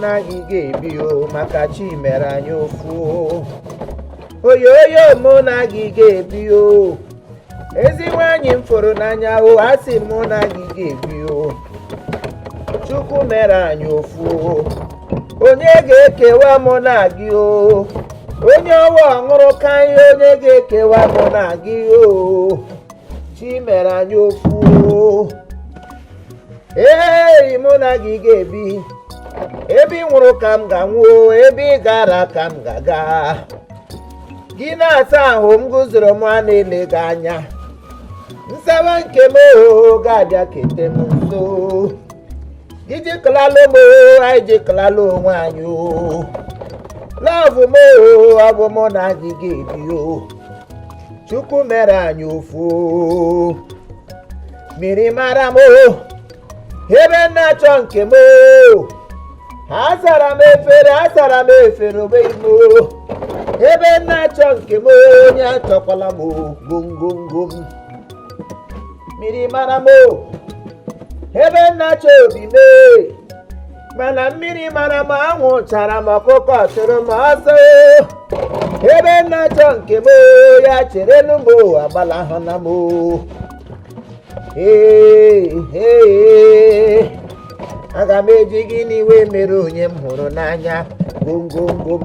na gị ga-ebi o maka chi mere anyị ofu oyoyo mụ na gị ga-ebi o ezi nwaanyị m fụrụ n'anya o a sị mụ na gị ga-ebi o chukwu mere anyị ofu onye ga-ekewa mụ na gị o onye ọwa ọṅụrụ ka ihe onye ga-ekewa mụ na gị o chi mere anyị ofu ee mụ na gị ga-ebi ebe ị nwụrụ ka m ga-anwụ ebe ị gara ka m ga-aga gị na-asa ahụ m guzoro m a na-ele gị anya nsawa nke m ohoho ga-abịa kete m nso gị jikọlala m anyị jikọlala onwe anyị o lọvụ m ohoho ọ bụ mụ na gị ga-ebi o chukwu mere anyị ofu mmiri mara m ebe m na-achọ nke m asara m efere asara m efere ogbeghị m ebe m na-achọ nke m onye achọkwala m gongongo m mmiri mara m ebe m na-achọ obi m mana mmiri mara m anwụ chara m ọkụkọ chụrụ m ọsọ ebe m na-achọ nke m ya cherenụ m agbalahụna m ee aga m eji gị n'iwe mere onye m hụrụ n'anya gongongo m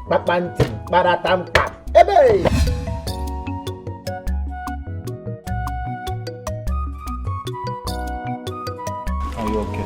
kpakpantị kparata mkpa ebe Are you okay?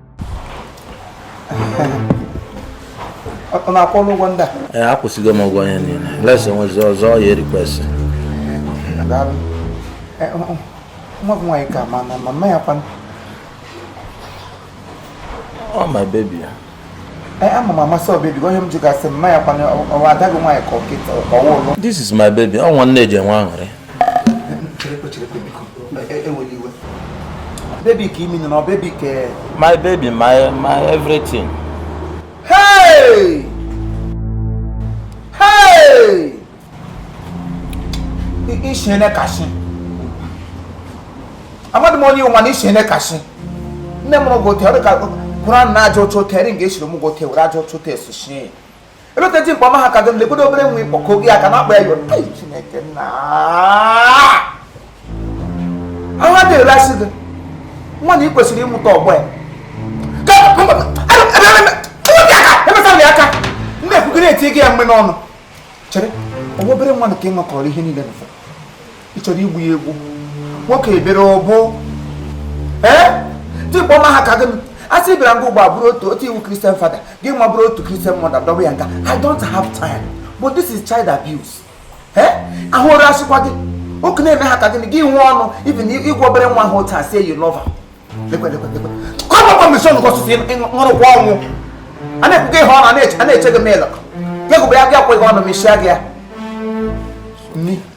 ọ na-akwụ ọrụ ụgwọ ndị a ee akwụsịgo m ụgwọ onye niile unless o nwezi ọzọ ya e-request nwa gị nwaanyị ka ma na mama ya kwanụ oh my baby ya ama m amasị ọbebi onye m ji gasị mma ya kwanụ ọwa ada gị nwaanyị ka ọkịta ọwa ụlọ this is my baby ọ nwa nne ji enwe aṅụrị Baby ka imi nọ baby ka my baby my my everything. Hey! Hey! Ishe ne kashi. Amadu mo ni o ma ni ishe ne kashi. Nne m gote ọ dị ka Quran na-aja otu otu eri nga esiri m gote were aja otu otu esushi eleta dimkpa ọma ha ka gị lekwedo obere nwa ị kpọ ka oge ya ka na-akpa ya yọrọ Ai, Chineke nna ahụ adịghị rasị gịnwa na ị kwesịrị ịmụta ọgbọ ya emesara ya aka ndị ekwugo na-eti gị ya mgbe n'ọnụ chere ọwa obere nwa nke ịṅakọrọ ihe niile na ị chọrọ igbu ya egbu nwoke ebere ọ bụ ee dimkpa ọma ha ka gị a sị bịara nga ugbo a bụrụ otu otu ị wụ Christian father gịnwa bụrụ otu Christian mother dọba ya nga I don't have time but this is child abuse ee ahụ ụra asịkwa gị oke na-eme ha ka gị gị nwee ọnụ even ịgwa obere nwa ahụ otu asị you love kọmọkọ mission gọsụsụ ṅụrụkwa ọnwụ a na-ekwuga ihe ọnụ a na-eche gị mịlụ gị gụbụ ya gị akweghị ọnụ mechie gị ya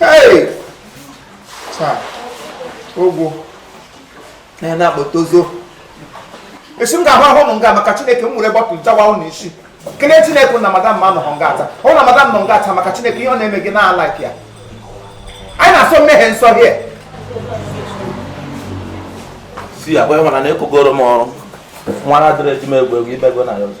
Hey! Taa, ogwu na na-akpọta ozo. Esi m ga-ahụ ahụ ụnụ nga maka Chineke m were bottle jawa ụnụ isi. Kelee Chineke na madam m anọhọ nga taa. Ọ na madam nọ nga taa maka Chineke ihe ọ na-eme gị na-ala ya. Anyị na-asọ mmehie nsọ here. Si agwa ịhụna na ekogoro m ọrụ. Nwanna adịrị eji m egwu egwu ibego na ya ọzọ.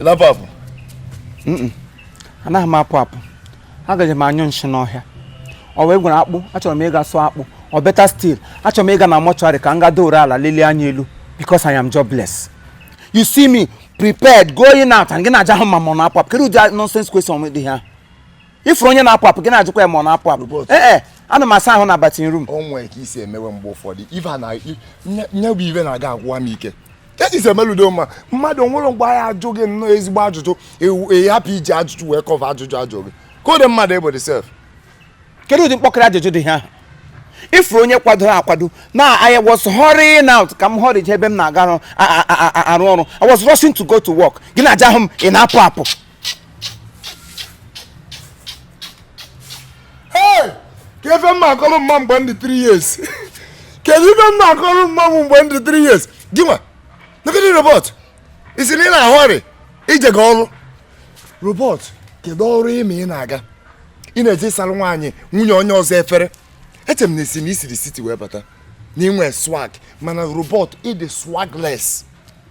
ị na-apụ apụ anaghị m apụ apụ agaje m anyụ nshị n'ọhịa ọ wee gwara akpụ achọrọ m ịga sụọ akpụ or better still achọrọ m ịga na mortuary ka m ga doro ala lelie anya elu because I am jobless you see me prepared going out and gị na-ajụ m ma mụ na-apụ apụ kedu ụdị nonsense question dị ihe a ị furu onye na-apụ apụ gị na-ajụkwa ya ma ọ na-apụ apụ ee eh, eh, ana m asa ahụ na bathing room o nwere ka i si emewe mgbe ụfọdụ ife na nye bụ ibe na-aga agwụwa m ike eji si emeludo mma mmadụ nwere mgbe anyị ajụ gị nnọọ ezigbo ajụjụ ị hapụ iji ajụjụ wee cover ajụjụ ajụ gị kedu mmadụ ị bụ sef kedu ụdị mkpọkịrị ajụjụ dị ihe a ị furu onye kwadoro akwado na I was hurrying out ka m hurry ebe m na-aga arụ ọrụ I was rushing to go to work gị na-ajụ m ị na-apụ apụ Hey! ka ife mma akọrọ mma mgbe m dị 3 years kedu ife mma akọrọ mma mgbe m dị 3 years gịnwa nagịdị robot ị sị na ị na-ahurry ije gị ọrụ robot kedu ọrụ ime ị na-aga ị na-eje ịsara nwaanyị nwunye onye ọzọ efere eche m na a sị na i siri city wee bata na ị nwe swag mana robot ị dị swagless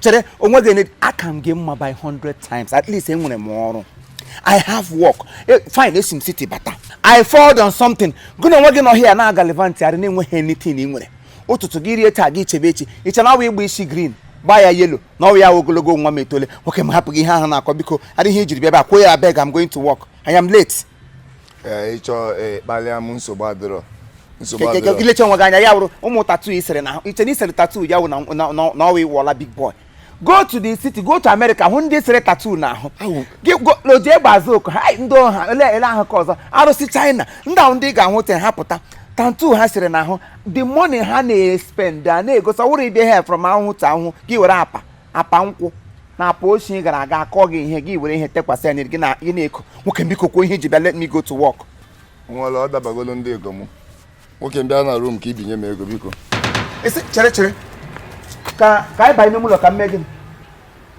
chere onwe gị aka m gị mma by 100 times at least enwere m ọrụ I have work e, fine esi m city bata I fold on something gịnwa onwe gị nọ here na-agallivantarị na-enweghị anything ị nwere ụtụtụ gị rie taa gị chebe echi i che na ọwa ịgba isi green gbaa ya yellow na ọwa ya ogologo nwa m etole nwoke m hapụ gị ihe ahụ na-akọ biko adịghị ijiri bịa bịa kwuo ya abeg I'm going to work I am late ee ịchọ ee kpalịa m nsogbu adịrọ nsogbu adịrọ ilecha onwe gị anya ya wụrụ ụmụ tattoo isere na iche na isere tattoo ya wụ na- na- na- na ọwa ịwụọla big boy go to the city go to america hụ ndị sere tattoo na ahụ Awụ. gị go- lo jee gbaza oku ha "Ai, ndị ọha ele ele ahụ ka ọzọ arụsị china ndị ahụ ndị ị ga-ahụ te ha pụta tattoo ha sere na ahụ the money ha na-espend a na-egosi ọwụrụ ibe ha from ahụhụ to ahụhụ gị were apa apa nkwụ na apa oshi gara aga akọ gị ihe gị were ihe tekwasị anya gị na- gị na-eko nwoke biko kwuo ihe iji bịa let me go to work nwere ọ dabagolo ndị ego m nwoke m bịa na room ka ibinye m ego biko esi chere chere ka ka anyị banye n'ime ụlọ ka m mee gịnị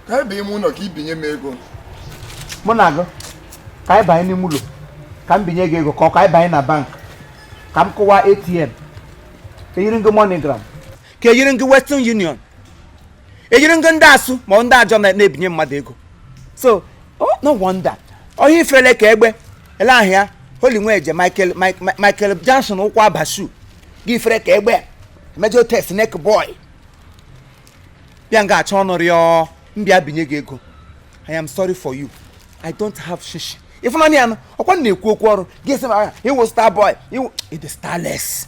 ka ebe ime ụlọ ka ibinye m ego mụ na gị ka anyị banye n'ime ụlọ ka m binye gị ego ka ọ ka anyị banye na bank ka m kụwa atm eyiri m gị moneygram ka eyiri m gị western union eyiri m gị ndị asụ ma ọ ndị ajo na- na-ebinye mmadụ ego so oh, no wonder onye ifele ka egbe ele ahụ ya holy nweje michael Mi- Mi- michael johnson ụkwụ abasu gị ifere ka egbe mejọ test neck boy bịa nga achọ ọnụ rịọ m bịa binye gị ego i am sorry for you i don't have shishi ịfụnanya ya nụ ọkwa m na-ekwu okwu ọrụ gị sị m "Ah, ịwụ star boy ịwụ ịdị starless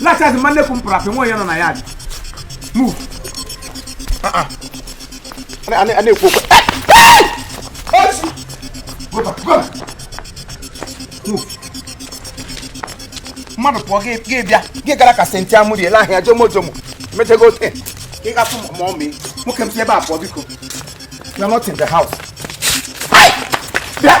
lachas mma nnekwu m pụrụ apị nwa onye nọ na ya dị move a na-ekwu okwu go back go back move mmadụ pụọ gị gị bịa gị gara ka senti amụri ele ahịa jomo jomo mechego ote ị gafụ ma ọ mee nwoke m si ebe a pụọ biko you are not in the house Ai! bịa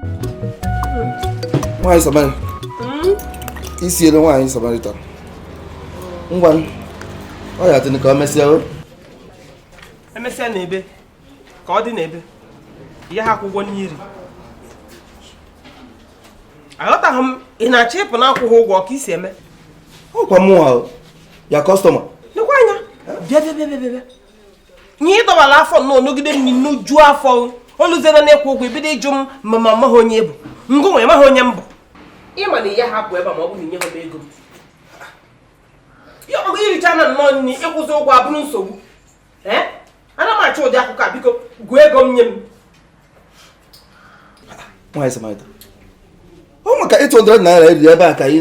nwaanyị samaritan hmm? isi elu nwaanyị samaritan ngwa oya tụnụ ka ọ mesịa o emesịa na ebe ka ọ dị na ebe ya ha akwụ ụgwọ nri aghọtaghị m ị na-achọ ịpụ na akwụghị ụgwọ ka isi eme ọkwa mụnwa your customer nekwa anya bịa bịa bịa bịa ihe ịdọbara afọ nnọọ nugide nni nujuo afọ oluzie na ịkwụ ụgwọ ebido ịjụ m ma ma amaghị onye bụ ngụnwa maghị onye m bụ ịma na ị ya hapụ ebe ma ọ bụghị nye ha m ego m ya ọgụ iricha na nnọọ nri ịkwụzi ụgwọ abụrụ nsogbu ana m achọ ụdị akụkọ a biko gụọ ego m nye m nwaanyị samaritan ọ maka 800 naira eriri ebe a ka ị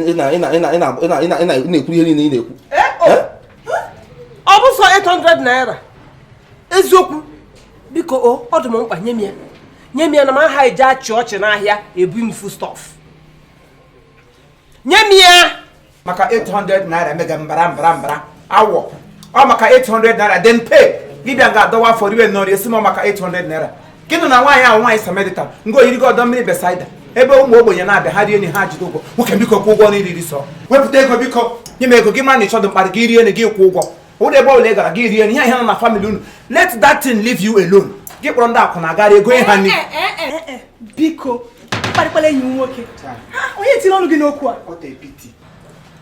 na-ekwu ihe niile ị na-ekwu eh, oh. eh? ọ bụ sọ 800 naira eziokwu biko o ọ dị m mkpa nye m ya nye m ya na m aha eji achị ọchị n'ahịa ebu m foodstuff nye m ya maka 800 naira emega mbara mbara mbara awọ ọ maka 800 naira then pay gị bịa nga a dọwa afọ riwe nọrọ asị m maka 800 naira gịnụ na nwaanyị ahụ nwaanyị Samaritan nga a yiri gị ọdọ mmiri Bethsaida ebe ụmụ ogbenye na-abịa ha rie nri ha jide ụgwọ nwoke biko kwụ ụgwọ nri i riri sọ wepụta ego biko nye m ego gị mara na ị chọdụ mkparị gị rie nri gị kwụ ụgwọ ụdị ebe ọbụla ị gara gị rie nri ihe ihe nọ na family unu let that thing leave you alone gị kpọrọ ndị akwụna agara ego ihe ha nri biko kparịkpara enyi m nwoke onye tiri ọnụ gị n'okwu a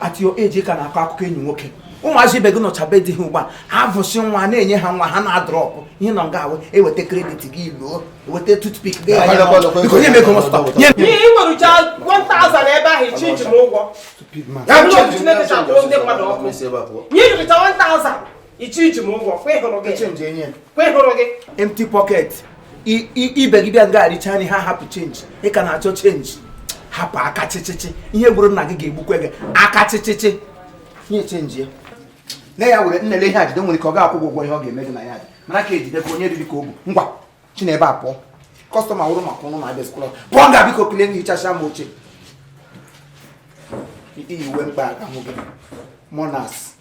at your age ị ka na-akọ akụkọ enyi nwoke ụmụazị ibe gị nọcha be di ha ugbu a ha vụsị nwa na-enye ha nwa ha na-adrọpụ ihe nọ nga a wụ eweta credit gị luo eweta toothpick gị nye m ego nwerucha 1000 ebe ahụ ichi iji m ụgwọ nye jụrịta 1000 ichi iji m ụgwọ kwa ịhụrụ gị change enye kwa ịhụrụ gị empty pocket ibe gị bịa nga a richa nri ha hapụ change ị ka na-achọ change hapụ aka chịchịchị ihe gburu nna gị ga-egbukwe gị aka chịchịchị nye change ya na ya were nnele ihe ajide nwere ike ọ ga-akwụ ụgwọ ihe ọ ga-eme gị na ya mara ka ejide ka onye riri ka o bu ngwa si n'ebe a pụọ customer wụrụ maka ụnụ na-abịa skwụlọ pụọ nga biko kilie gị hichacha m oche i yi uwe mkpa aga mụ gị monas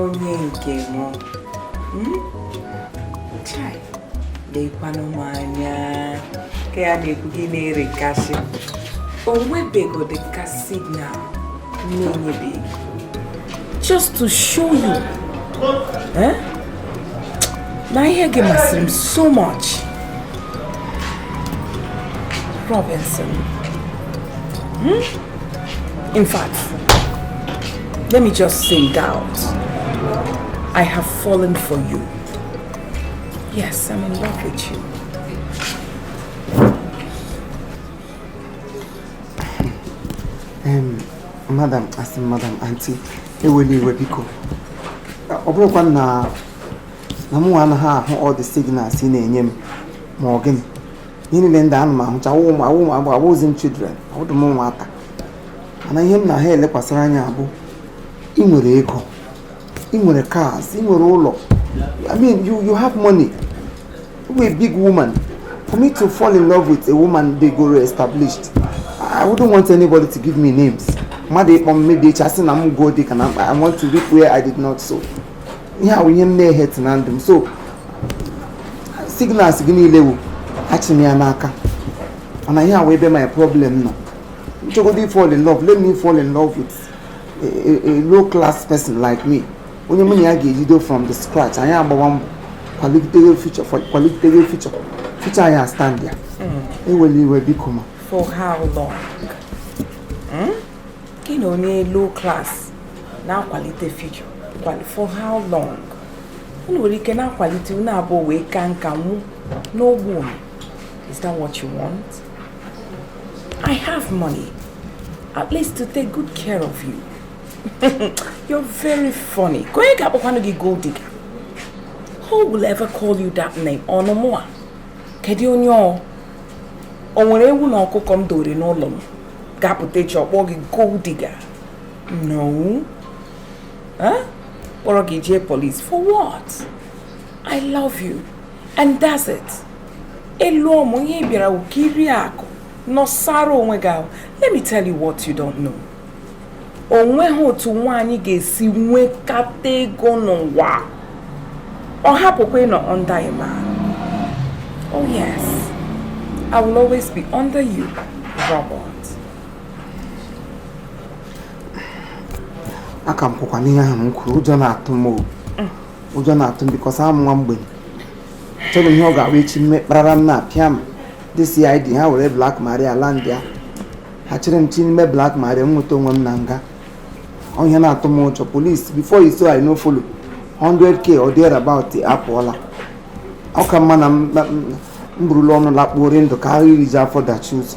onye nke m hmm? lekwanụ m anya ka ya na-ekwu gị na-ere kasị o nwebegodị ka signal na-enyebeghị just to show you eh? na ihe gị masịrị m so much Robinson hmm? In fact, let me just say it out. I have fallen for you. Yes, I'm in love with you. Um, madam, as in, madam, auntie, ewele iwe biko. Ọ bụrọkwa na mụ anaghị ahụ all the signals ị na-enye m ma ọ gịnị ihe niile ndị a ana m ahụcha awụzi m children awụdụ m nwata mana ihe m na ha elekwasara anya bụ ị nwere ego ị nwere cars ị nwere ụlọ i mean you you have money you're a big woman for me to fall in love with a woman dịgo established i wouldn't want anybody to give me names mmadụ ịkpọ m maybe echi asị na m gold digger na mkpa i want to reap where i did not sow ihe a wụ ihe m na-ehate na ndụ m so signals gị niile wụ achị m ya n'aka mana ihe a wụ ebe my problem nọ m chọgodu ịfall in love let me fall in love with a, a, a low class person like me onye mụ na ya ga-ejido from the scratch anyị agbawa mbọ kwalite future kwalite future future anyị astandịa hmm. ewela iwe biko ma for how long hmm? gị na onye low class na-akwalite future for how long unu nwere ike na-akwalite unu abụọ wee ka nka nwụọ n'ogbenye is that what you want i have money at least to take good care of you you're very funny ka onye ga-akpọkwanụ gị gold digger who will ever call you that name ọnụ mụwa kedu onye ọ o nwere ewu na ọkụkọ m dowere n'ụlọ m ga-apụta echi ọkpọ gị gold digger no kpọrọ gị jee polis for what i love you and that's it ụlọ mụ ihe ị bịara wụ ka i rie akụ nọsara onwe gị ahụ let me tell you what you don't know o nweghị otu nwaanyị ga-esi nwekata ego n'ụwa ọ hapụkwa ịnọ under a man oh yes i will always be under you robert aka m kwụkwa n'ihe ahụ m kwuru ụjọ na-atụ m ụjọ na-atụ m because awụ m nwa ogbenye achọrọ m ihe ọ ga-abụ echi m mee kpararam na-apịa m ndị CID ha were Black Maria alandịa ha chịrị m chi n'ime Black Maria m nweta onwe m na nga ọ ihe na-atụ m ụjọ police before you say I no follow 100k or there about apụọla ọ ka mma na m burula ọnụ lakpuo dị ndụ karịa irijuo afọ dachie ụzọ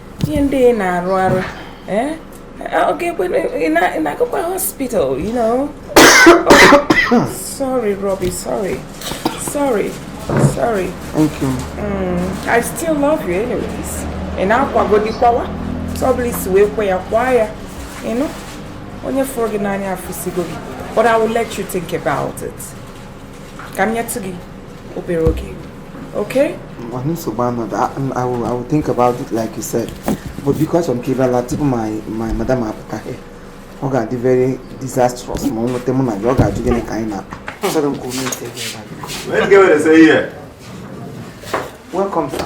ihe ndị ị na-arụ arụ eh? ọ ga-ekwe na-agakwa hospital you know sorry Robbie sorry sorry sorry thank you mm, I still love you anyways ị na-akwagodi akwa a otu ọbụla i si wee kwe ya kwaa ya na onye fụrụ gị n'anya afụsigo gị but I will let you think about it ka m nyetụ gị obere oge okay mana nsogbu adịrọ I will I will think about it like you said but biko achọrọ m ka ị bịa laa tupu my my madam apụta ọ ga-adị very disastrous ma o nweta mụ na gị ọ ga-ajụ gịnị ka anyị na-akpa achọrọ m ka o mee ite gị Welcome, sir.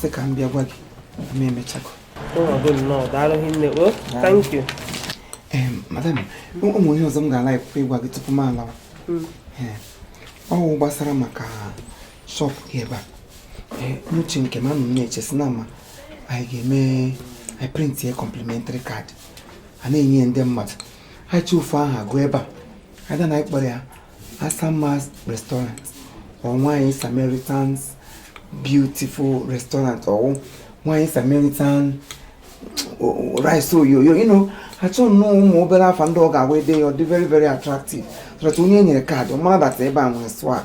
sị ka m bịa gwa gị na m emechago madam o nwe ihe ọzọ m ga-alike ịgwa gị tupu m alawa hmm. ọ wụ gbasara maka shop gị ebe a n'uche nke m anọ m na-eche si na ma anyị ga-eme anyị printie complimentary card a na-enye ndị mmadụ anyị chọọ ofu aha gụọ ebe a either na anyị kpọrọ ya Asama's restaurant or nwanyị Samaritan's beautiful restaurant or nwanyị Samaritan rice oyoyo you know achọ nnọọ ụmụ obere afa ndị ọ ga-awụ e dee ya ọ dị very very attractive so that onye e nyere kaadị ọ mara that ebe a nwere swag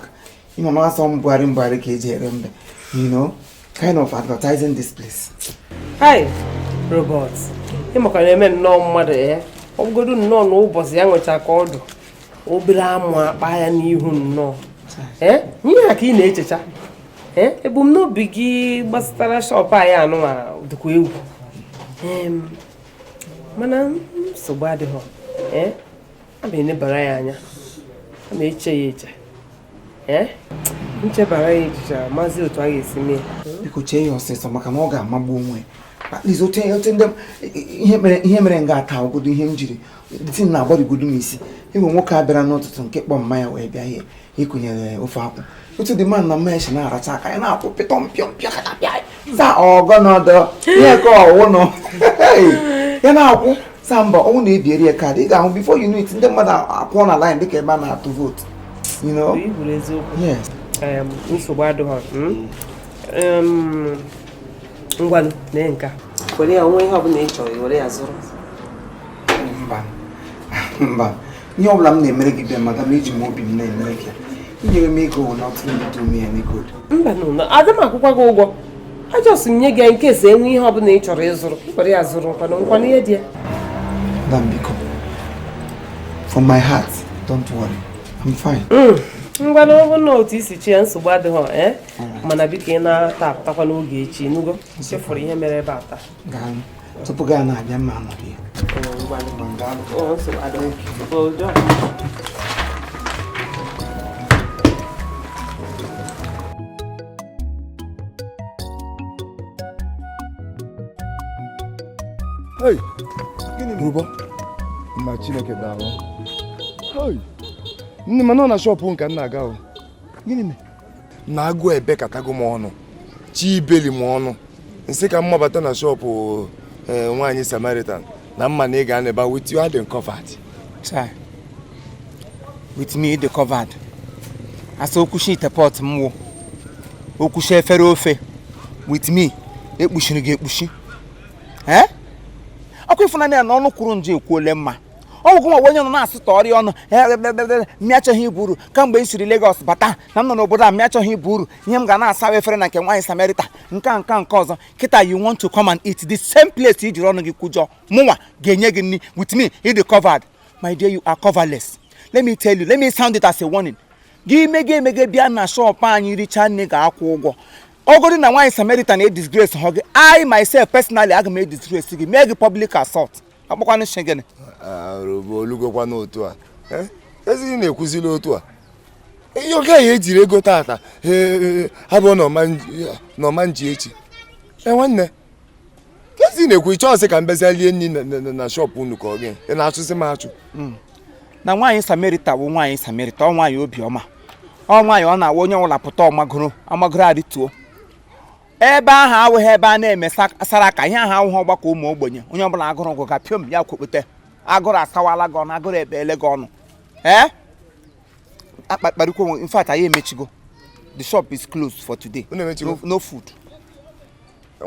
ị ma na a sị mbugharị mbugharị ka e ji ere mbe you know kind of advertising this place. Hi, Robert. Ị makwa na-eme nnọọ mmadụ ya. Eh? Ọ bụgodu nnọọ na ụbọchị ya nwecha ka ọ dụ obere amụ akpa ya n'ihu nnọọ. Eh? Ihe a ka ị na-echecha. Eh? Ebumnobi gị gbasatara shop anyị anụnwa dịkwa egwu. Mana nsogbu adịghị. Aga m enebara ya anya. Aga m eche ya eche. eh? m chebara ya echiche mazie otu a ga-esi mee biko chee ya ọsịsọ maka na ọ ga-amagbu onwe ihe mere nga a taa ogodo ihe m jiri ti m na-agbarigodo m isi ị nee nwoke a bịara n'ụtụtụ nke kpọ mama ya wee bịa ihe i kunyere ofe akwụ otu the man na mama ya si na-aracha aka ya na-akụ pịtọ mpịọ mpịọ za ọgọnọdọ ihe ka ọ wụ ọnụ ya na-akụ samba ọ wụ na e biere ya kaadị ị ga-ahụ before you know it ndị mmadụ akwụọ na line dịka ebe a na-atụ vote you know nsogbu adịghị hmm? ngwanụ nka were ya o nwee ihe ọbụla ị chọrọ were ya zụrụ mba mba ihe ọbụla m na-emere gị bịa madam eji m obi m na-emere gị inye m ego will not do me any good mba na aga m akwụkwa gị ụgwọ a just m nye gị nke sị e nwee ihe ọbụla ị chọrọ ịzụrụ ka i were ya zụrụ nkwana nkwana ihe dị ya madam biko from my heart don't worry I'm fine mm. ngwanụ ọ bụ na otu i si chee ya nsogbu adịghị eh? mana biko ị naa taa pụtakwa n'oge echi ị nụgo chefuru ihe mere ebe a taa tupu gaa na-abịa ma m anọghị Hey, gịnị bụ ụbọ? Nna Chineke daalụ. Hey, nne m nọ na shop nke m na-aga. Gịnị mere? na agụụ ebekatago m ọnụ chi ibeli m ọnụ m sị ka m mabata na shop eh, nwaanyị samaritan na m ma na ị ga-anọ ebe a with you adị m covered with me ị dị covered asa okwuchi ite pot m wụ okwuchi efere ofe with me e kpuchiri gị ekpuchi eh? ọ kwa ị fụna ya na ọnụ kwuru njọ ekwuole mma ọ wụ gị nwa onye nọ na-asụta ọrịa ọnụ mụ achọghị ibu uru kamgbe m siri Lagos bata na m nọ n'obodo a mụ achọghị ibu uru ihe m ga na-asa efere na nke nwaanyị Samerita nke a nke nke ọzọ kịta you want to come and eat the same place i jiri ọnụ gị kwujọ mụnwa ga-enye gị nri with me ị dị covered my dear you are coverless let me tell you let me sound it as a warning gị mee emee bịa na shọpụ anyị richaa nri gị akwụ ụgwọ ọ bụrụ na nwaanyị Samerita edisgracehụ gị I myself personally aga m edisgrace gị mee gị public assault akpọkwanụ si gịnị o lugokwa n'otu a eh? ezighị na-ekwuzila otu a ihe oge anyị ejiri ego tata eh, eh, abụrọ na ọ ma nji echi e nwanne ezi na-ekwu ị chọọ sị ka m bịazie lie nri na shọpụ unu ka ọ gị ị na-achụzi m achụ hmm. na nwaanyị samerita bụ nwaanyị samerita ọ nwaanyị obiọma ọ nwaanyị ọ na-awa onye ọbụla pụta ọ magoro amagoro arịtuo ebe ahụ awụghị ebe a na-eme saraka ihe ahụ awụghị ọgbakọ ụmụ ogbenye onye ọbụla agụrụ gụ ga piom ya kwokpute agụrụ asawala gị ọnụ agụrụ ebeele gị ọnụ ee akpakparịkwo in fact anyị emechigo the shop is closed for today no food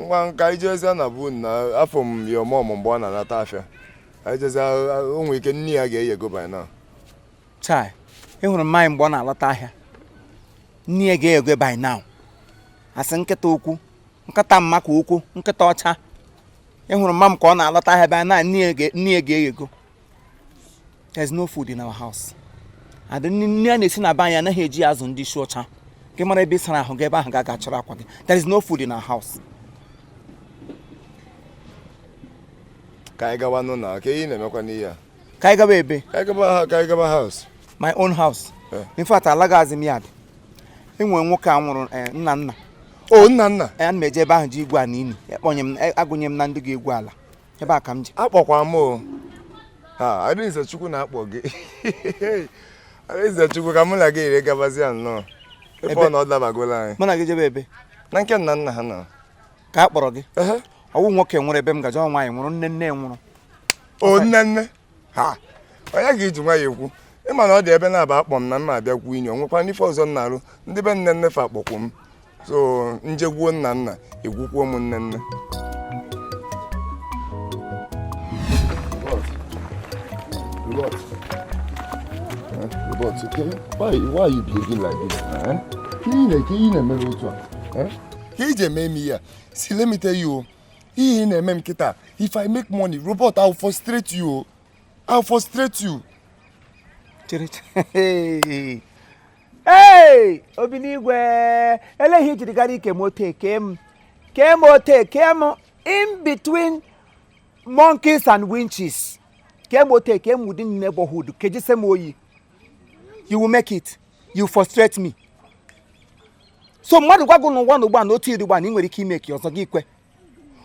ngwa ka anyị jezie na be unu afụ m ya ọmụmụ mgbe ọ na-anata afịa ijezi o nwe ike nri ya ga-eyego by now chai ị hụrụ mma m mgbe ọ na-alọta ahịa nri ya ga-eyego by now asị nkịta okwu nkịta mma ka okwu nkịta ọcha ị hụrụ mma m ka ọ na-alọta ahịa bịa na nri ya ga-eghego there's no food in our house ụdị nri a na-esi na be anyị anaghị eji azụ ndị isi ọcha gị mara ebe ị sara ahụ gị ebe ahụ gaa chọrọ akwa gị there is no food in our house ka anyị gawa n'ụlọ ka ị na-emekwanụ ihe a ka anyị gaba ebe ka anyị gaba house my own house eh. in fact alagazi m yard enwere nwoke a nwụrụ eh, nna nna o oh, nna nna eh, ana m eje ebe ahụ je igwu ala ini ekpọnye m agụnye m na ndị ga-egwu ala ebe a ka m je a kpọkwa m o ha Adaeze Chukwu na-akpọ gị Adaeze Chukwu ka mụ na gị yiri gabazia nnọọ ebe ọ na ọ dabagola anyị mụ na gị jebe ebe na nke nna nna ha nọ ka a kpọrọ gị ọ wụ nwoke nwụrụ ebe m ga-eje ọ nwaanyị nwụrụ nne nne nwụrụ o nne nne ha ọ ya ka i ji nwayọ ekwu ị ma na ọ dị ebe naabọ a kpọ m na m abịa gwuo ini o nwekwanụ ife ọzọ m na-arụ ndị be nne nne fa akpọkwu m so m jee gwuo nna nna egwukwuo m nne nne Robert. Eh, Robert, okay? Why, why are you behaving like this? Eh? Ka ị na-eke ị na-emere otu a? Eh? ka eji eme m ihe a see let me tell you o ihe ị na-eme m kịta if i make money robert i will frustrate you o i will frustrate you chere chere ee obinigwe elee ihe i jiri gara ike m ote kee m kee m ote kee m in between monkeys and winches kee m ote kee m ụdị neighborhood kejise m oyi you will make it you frustrate me so mmadụ gwa gị nwa ugbu a na otu ị dị ugbu a na ị nwere ike imake ọzọ gị kwe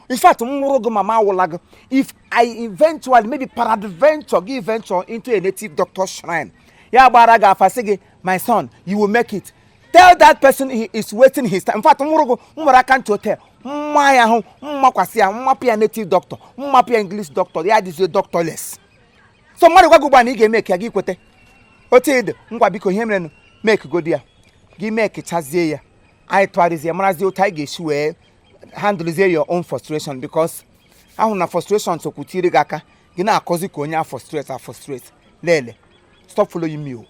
in fact m wụrụ gị ma m awụla gị if i eventually maybe peradventure gị venture into a native doctor shrine ya gbaara gị afa sị gị my son you will make it tell that person he is wasting his time in fact m wụrụ gị m were aka ntị hotel mma ya ahụ m makwasị ya m mapụ ya native doctor m mapụ ya english doctor ya dịzie doctorless so mmadụ gwa gị ugbu a na ị ga-emake ya gị kweta otu ị dị ngwa biko ihe merenụ makegodi ya gị makechazie ya anyị tụgharịzie marazie otu anyị ga-esi wee handlezie your own frustration because ahụ na frustration sokwutiri gị aka gị na-akọzi ka onye a frustrate a frustrate lele stop following me o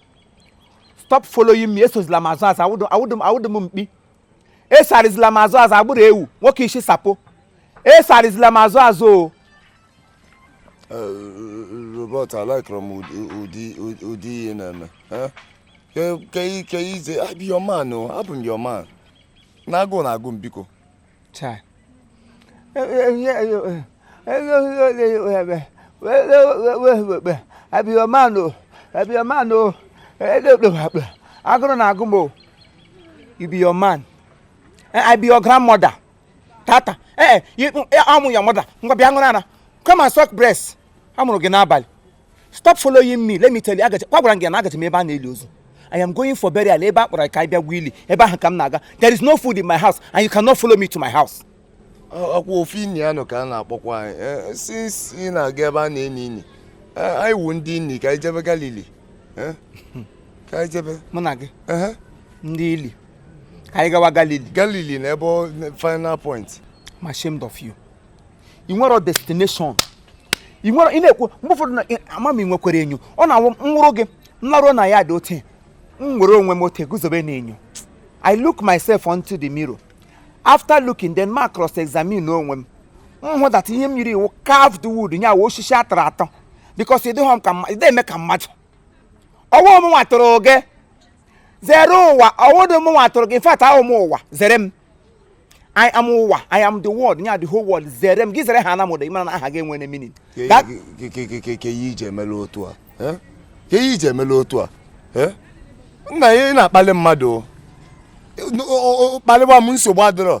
stop following me esozila m azụ azụ awụdị m mkpi esarịzila m azụ azụ agbụrụ ewu nwoke isi sapo esarịzila m azụ azụ o robert alikerọ m ụdị ihe ị na-eme ke I be your man o abụ m your man na agụụ na-agụ m biko I be your man o I be your man o agụrụ na-agụ m o you be your man I be your grandmother tata ee eh, eh, I'm your mother ngwa bịa ṅụrụ ara come and suck breast a mụrụ gị n'abalị stop following me let me tell you agachi kwa gwara gị na agachi m ebe a na-eli ozu I am going for burial ebe a kpọrọ ka anyị bịa gwa ili ebe ahụ ka m na-aga there is no food in my house and you cannot follow me to my house ọkwa ofe inyi ya nọ ka a na-akpọkwa anyị eh, since ị na-aga ebe a na-eni ini anyị wu ndị ini ka anyị jebe Galili ka anyị jebe mụ na gị ndị ili ka anyị gawa galili galili na ebe final point I'm ashamed of you ị nwere destination ị nwere ị na-ekwu mgbe ụfọdụ na ama m i nwekwara enyo ọ na-awụ m wụrụ gị m laruo na ya dị ote m were onwe m ote guzobe na enyo I look myself onto the mirror after looking then ma cross examine onwe m m hụ that ihe m yiri wụ carved wood nya wụ osisi a tụrụ atụ because ịdịghọ m ka ị dị eme ka mmadụ ọ wụ mụnwa tụrụ gị zere ụwa ọ wụdụ mụwa tụrụ gị in fact awụ m ụwa zere m I am ụwa I am the world nya the whole world zere m gị zere ha na mụda ị mara na aha gị enwere meaning ke ihe i ji emela otu a ke ihe i ji emela otu a nna ya ị na-akpali mmadụ kpaliwa m nsogbu adịrọ